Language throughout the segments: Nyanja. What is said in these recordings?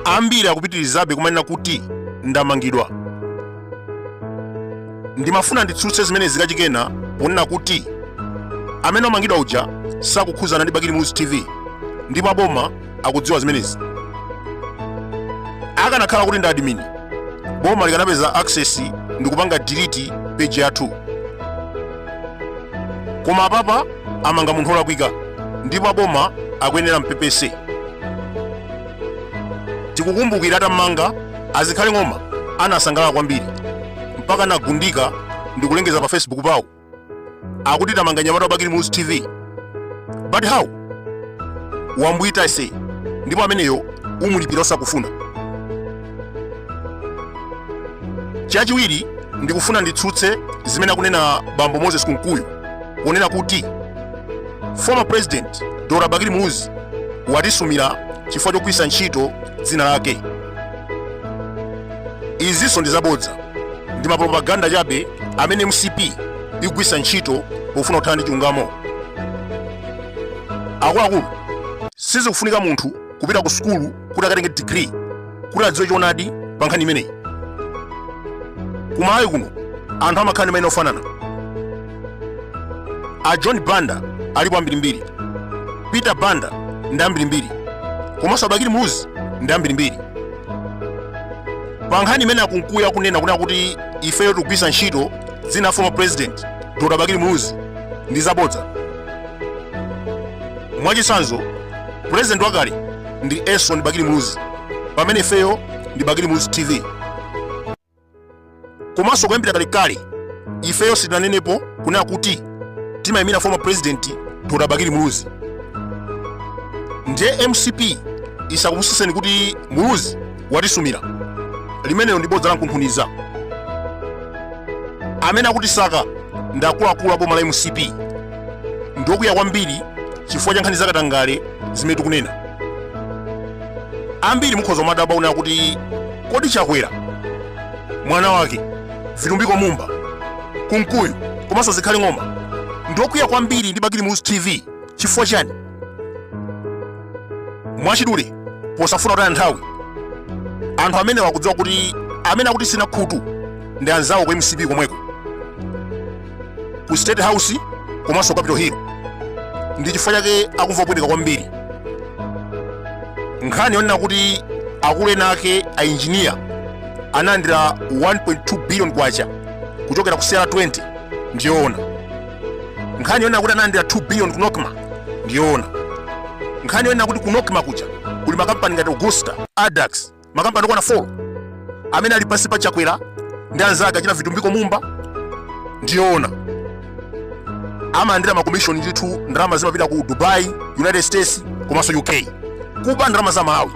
ambiri akupitirizabe kumanena kuti ndamangidwa ndimafuna nditsutse zimene a Zikhale akunena ponena kuti amene amangidwa uja sakukhuzana ndi bakili muluzi tv ndipo aboma akudziwa zimenezi akanakhala kuti ndi admin boma likanapeza access ndi kupanga delete page yathu koma apapa amanga munthu olakwika ndipo aboma akuyenera ampepese tikukumbukira atammanga a Zikhale ng'oma anasangalala kwambiri mpaka anagundika ndi kulengeza pa facebook pawo akuti tammanga mnyamata wa Bakili muluzi tv but how wambwita ase ndipo ameneyo umulipira osakufuna chachiwiri ndikufuna nditsutse zimene akunena bambo moses kunkuyu ponena kuti former president dr bakili muluzi watisumira chifukwa chogwiritsa ntchito dzina lake izinso ndi zabodza ndi mapropaganda chabe amene mcp ikugwiritsa ntchito pofuna kuthana ndi chilungamo akuluakulu sizikufunika munthu kupita ku sukulu kuti akatenge degree kuti adziwe choonadi pa nkhani imeneyi ku malawi kuno anthu amakhala ndi maina ofanana a john banda alipo ambirimbiri peter banda ndi ambirimbiri komanso a Bakili muluzi ndi ambirimbiri pa nkhani imene a Kunkuyu akunena kunena kuti ifeyo tikugwiritsa ntchito dzina la former president dr bakili muluzi ndi zabodza mwachitsanzo president wakale ndi Elson bakili muluzi pamene ifeyo ndi bakili muluzi tv komanso kuyambira kalekale ifeyo sitinanenepo kunena kuti timayimira former president dr bakili muluzi ndiye mcp isakupusiseni kuti muluzi watisumira limenelo ndi bodza lankunkhuniza amene akutisaka ndi akuluakulu a boma la mcp ndokwiya kwambiri chifukwa cha nkhani zakatangale zimene tikunena ambiri mukhoza kumadabwa kunena kuti kodi chakwera mwana wake vitumbiko mumba kunkuyu komanso zikhale ng'oma ndokwiya kwambiri ndi bakili muluzi tv chifukwa chani mwachidule posafuna kutaya nthawi anthu amenewa akudziwa kuti amene akutitsina khutu ndi anzawo ku mcp komweko ku state house komanso capital hill ndi chifukwa chake akumva kupweteka kwambiri nkhani yonena kuti akulu ena ake a injiniya analandira 1.2 billion kwacha kuchokera ku sierra 20 ndiyoona nkhani yonena kuti analandira 2 billion ku nocma ndiyoona nkhani yonena kuti ku nocma kuja kuli makampani ngati augusta adax makampani okwana 4 amene ali pansi pa chakwera ndi anzake achina vitumbiko mumba ndiyoona amalandira makomishoni ndithu ndalama zimapita ku dubai united states komanso uk kuba ndalama za malawi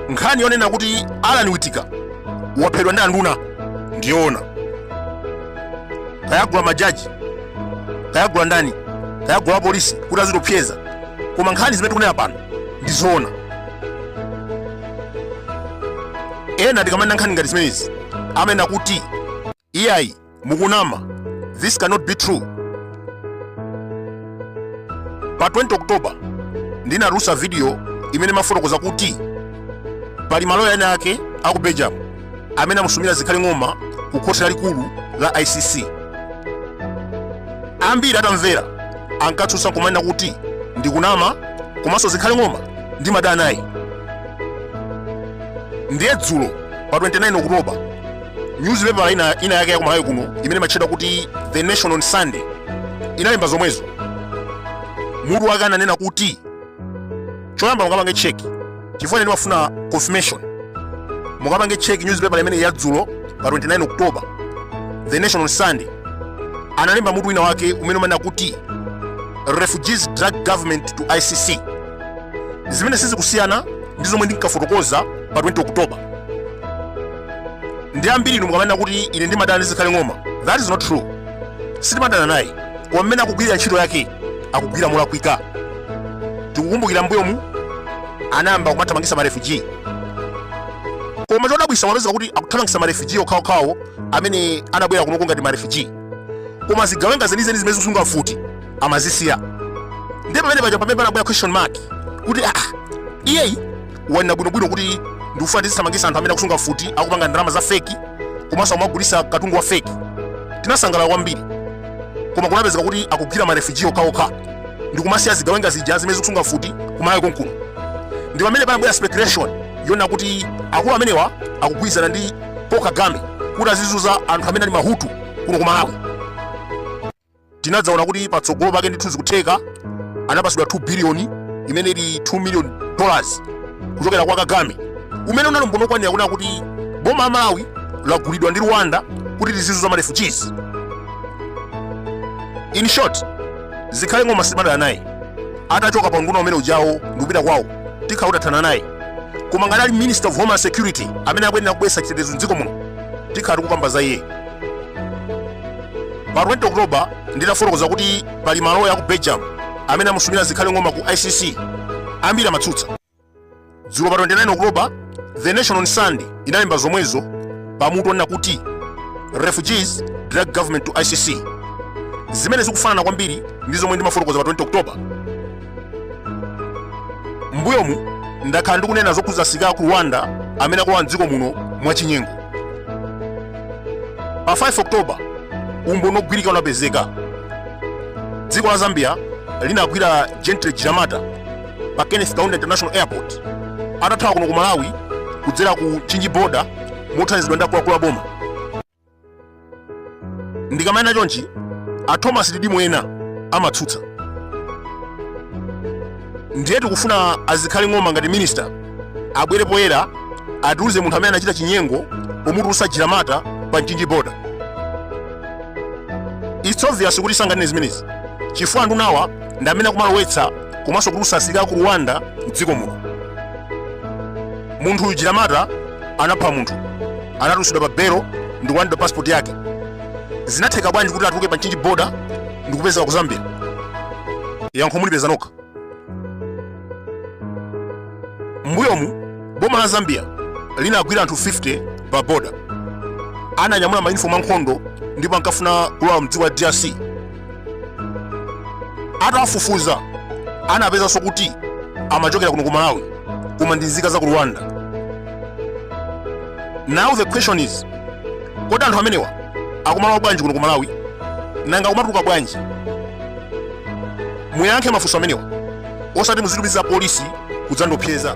nkhani yonena kuti alan witika waphedwa ndi anduna ndiyoona kayagula majaji kayagula ndani kayagula apolisi kuti azitiopseza koma nkhani zimene tikunena pano ndizoona ena tikamanena nkhani ngati zimenezi amanena kuti iyayi mukunama this cannot be true pa 20 oktoba ndinatulusa video imene imafotokoza kuti pali maloya ena ake aku belgium amene amusumira zikhale ng'oma ku khoti lalikulu la icc ambiri atamvera ankatsutsa kumanena kuti ndikunama komanso zikhale ng'oma ndimadana naye ndiye dzulo pa 29 okutoba nyuzipepala ina yake ya kumalawi kuno imene imatchedwa kuti the nation on sunday inalemba zomwezo mutu wake ananena kuti choyamba mukapange check chifukwa ine ndimafuna confirmation mukapange check newspaper imeneyi yadzulo pa 29 october the nation on sunday analemba mutu wina wake umene umanena kuti refugees drag government to icc zimene sizikusiyana ndi zomwe ndinkafotokoza pa 20 october ndi ambiri inu mukamanena kuti ine ndimadana ndi zikhale ng'oma that is not true sitimadana naye koma mmene akugwirira ntchito yake akugwira molakwika tikukumbukira mbuyomu anayamba kumathamangisa marefugee koma chodabwisa mapezeka kuti akuthamangisa marefugee okhaokhawo amene anabwera kunoko ngati marefugee koma zigawenga zenizeni zimene zikusunga mfuti amazisiya ndiye pamene paja pamene panabwera question mark kuti ah iyayi wanena bwinobwino kuti ndikufuna tizithamangisa anthu amene akusunga mfuti akupanga ndalama za feki komanso akumagulisa katundu wa feki tinasangalala kwambiri koma kunapezeka kuti akugwira marefuji okhaokha ndikumasiya zigawenga zija zimene zikusunga mfuti kumalawi konkuno ndi pamene panabwera speculation yonena kuti akulu amenewa akugwirizana ndi paul kagame kuti azizuza anthu amene ali mahutu kuno kumalawi tinadzaona kuti patsogolo pake ndithu zikutheka anapatsidwa 2 biliyoni imene ili 2 million dollars kuchokera kwa kagame umene unali umboni okwanira kunena kuti boma la malawi lagulidwa ndi rwanda kuti lizizunza marefugees in short zikhale ng'oma sindimadana naye atachoka pa unduna umene ujawo ndikupita kwawo tikhala titathana naye koma ngati ali minister of homeland security amene akuyenera kubweretsa chitetezo mdziko muno tikhala tikukamba za iye pa 20 oktoba nditafotokoza kuti pali maloya a ku belgium amene amusumira zikhale ng'oma ku icc ambiri amatsutsa dzulo pa 29 oktoba the nation on sunday inalemba zomwezo pamutu onena kuti refugees drag government to icc zimene zikufanana kwambiri ndi zomwe ndimafotokoza pa 20 oktoba mbuyomu ndakhala ndikunena zokhudza asilikali a ku rwanda amene akulowa mdziko muno mwachinyengo pa 5 oktoba umboni ogwirika unapezeka dziko la zambia linagwira gentle jiramata pa kenneth kaunda international airport atathawa kuno ku malawi kudzera ku mchinji boda mothandizidwa ndi akuluakulu a boma ndikamanena chonchi a thomas didimu ena amatsutsa ndiye tikufuna a zikhale ng'oma ngati minista abwere poyera atiuze munthu amene anachita chinyengo pomutulutsa jiramata pa mchinji boda its obvious kuti sanganene zimenezi chifukwa a ndunawa ndi amene akumalowetsa komanso kutulusa asilikali a ku rwanda mdziko muno munthu uyu jiramata anapha munthu anatulutsidwa pa belo ndi kulandidwa pasipoti yake zinatheka bwanji kuti atuluke pa mchinji boda ndi kupezeka ku zambia yankho mulipeze nokha mbuyomu boma la zambia linagwira anthu 50 pa boda atanyamula mayunifomu ankhondo ndipo ankafuna kulowa mdziko la drc atawafufuza anapezanso kuti amachokera kuno ku malawi koma ndi nzika za ku rwanda now the question is kodi anthu amenewa akumalowa bwanji kuno ku malawi nanga akumatuluka bwanji muyankhe mafunso amenewa osati muzitumiza polisi kudzandopseza